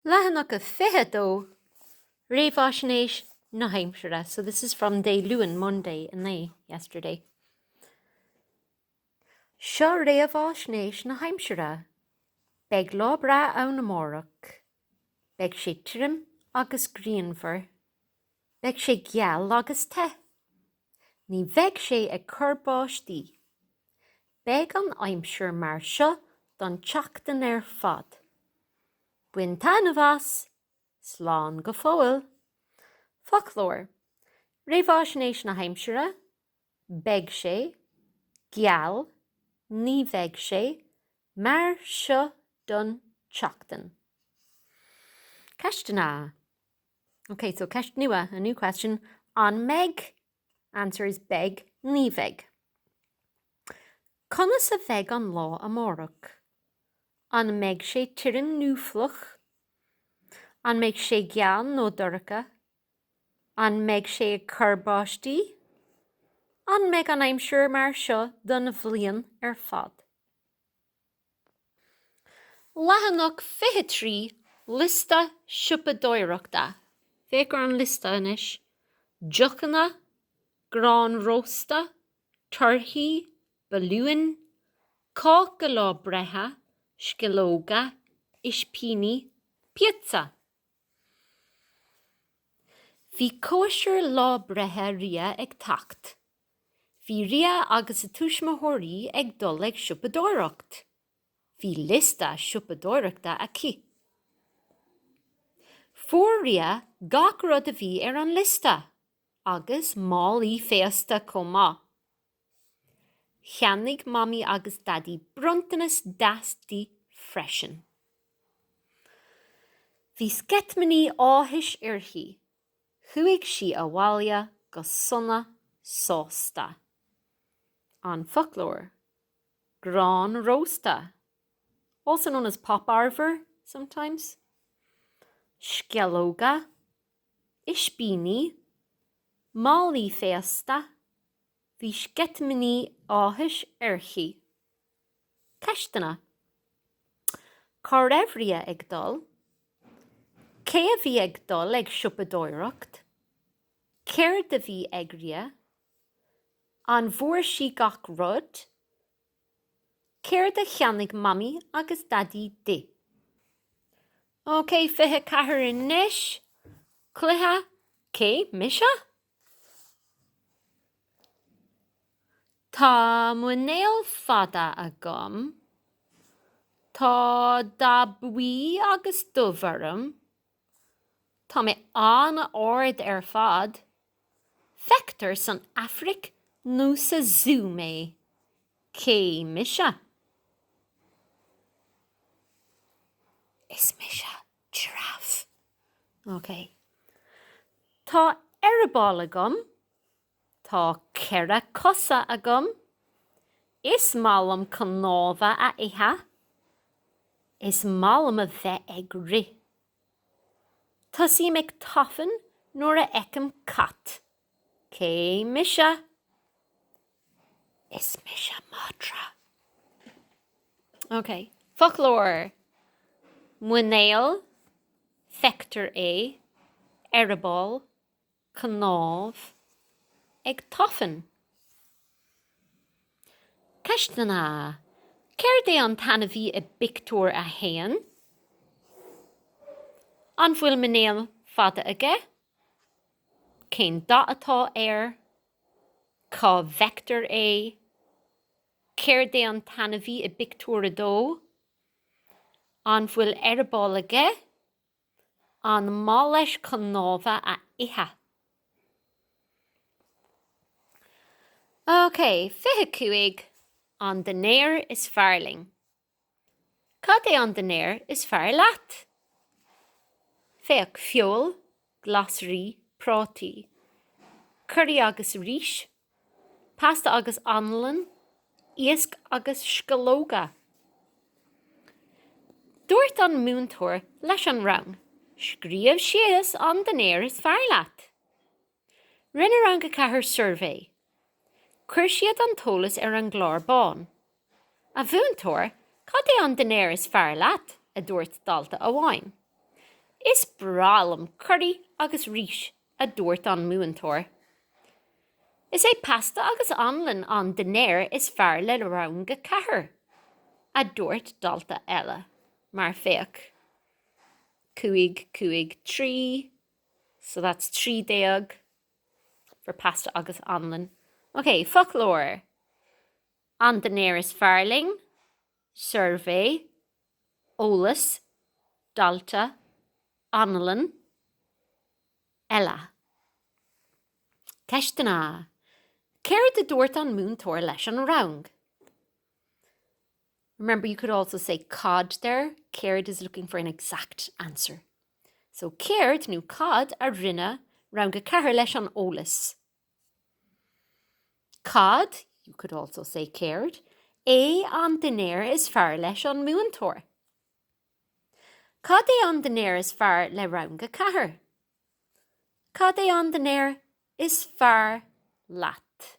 Leathanach a 22, Réamhaisnéis na hAimsire, so this is from Dé Luain, Monday, inné, yesterday. Seo réamhaisnéis na hAimsire. Beidh lá breá ann amárach. Beidh sé tirim agus grianmhar. Beidh sé geal agus te. Ní bheidh sé ag cur báistí. Beidh an aimsir mar seo don tseachtain ar fad. Bain taitneamh as! Slán go fóill. Foclóir, Réamhaisnéis na hAimsire, Beidh sé, geal, ní bheidh sé, mar seo don tseachtain. Ceisteanna, OK, so ceist nua, a new question, An mbeidh Answer is Beidh, ní bheidh. Conas a bheidh an lá amárach? An mbeidh sé tirim nó fliuch? An mbeidh sé geal nó dorcha? An mbeidh sé ag cur báistí? An mbeidh an aimsir mar seo don bhliain ar fad? Leathanach 23, Liosta siopadóireachta. Féach ar an liosta anois, deochanna, grán rósta, torthaí, balúin, cáca lá breithe, sceallóga, ispíní, píotsa. Bhí cóisir lá breithe Ria ag teacht. Bhí Ria agus a tuismitheoirí ag dul ag siopadóireacht. Bhí liosta siopadóireachta aici. Fuair Ria gach rud a bhí ar an liosta, agus málaí féasta chomh maith. Cheannaigh Mamaí agus Daidí bronntanas deas di freisin. Bhí sceitimíní áthais uirthi. Chuaigh sí abhaile go sona sásta. An Foclóir, grán rósta, also known as pop arbhar sometimes, sceallóga, ispíní, málaí féasta, bhí sceitimíní áthais uirthi. Ceisteanna, Cá raibh Ria ag dul? Cé a bhí ag dul ag siopadóireacht? Céard a bhí ag Ria? An bhfuair sí gach rud? Céard a cheannaigh Mamaí agus Daidí di? OK, 24 anois. Cluiche Cé mise? Tá muinéal fada agam. Tá dath buí agus dubh orm. Tá mé an-ard ar fad. Feictear san Afraic nó sa zú mé. Cé mise? Is mise. Giraffe! OK. Tá eireaball agam. Tá ceithre cosa agam. Is maith liom cnámha a ithe. Is maith liom a bheith ag rith. Tosaím ag tafann nuair a fheicim cat. Cé mise? Is mise madra. Ok, foclóir. Muinéal, feictear é, eireaball, cnámh, ag tafann. Ceisteanna, Céard é an t-ainmhí i bpictiúr a haon? An bhfuil muinéal fada aige? Cén dath atá air? Cá bhfeictear é? Céard é an t-ainmhí i bpictiúr a dó? An bhfuil eireaball aige? An maith leis cnámha a ithe? OK, 25, An Dinnéar is Fearr Linn. Cad é an dinnéar is fearr leat? Féach, feoil, glasraí, prátaí, curaí agus rís, pasta agus anlann, iasc agus sceallóga. Dúirt an múinteoir leis an rang, Scríobh síos an dinnéar is fearr leat. Rinne Rang 4 suirbhé. Chuir siad an t-eolas ar an gclár bán. A mhúinteoir, cad é an dinnéar is fearr leat? a dúirt dalta amháin. Is breá liom curaí agus rís, a dúirt an múinteoir. Is é pasta agus anlann an dinnéar is fearr le Rang 4, a dúirt dalta eile. Mar féach. 5 5 3 So that's trí déag for pasta agus anlann. Ok, foclóir. An dinnéar is fearr linn. Suirbhé. Eolas. Dalta. Anlann. Eile. Ceisteanna. Céard a dúirt an múinteoir leis an rang? Remember, you could also say cad there céard is looking for an exact answer. So céard, nó cad, a rinne Rang 4 leis an eolas? Cad, you could also say céard, é an dinnéar is fearr leis an múinteoir? Cad é an dinnéar is fearr le Rang 4? Cad é an dinnéar is fearr leat?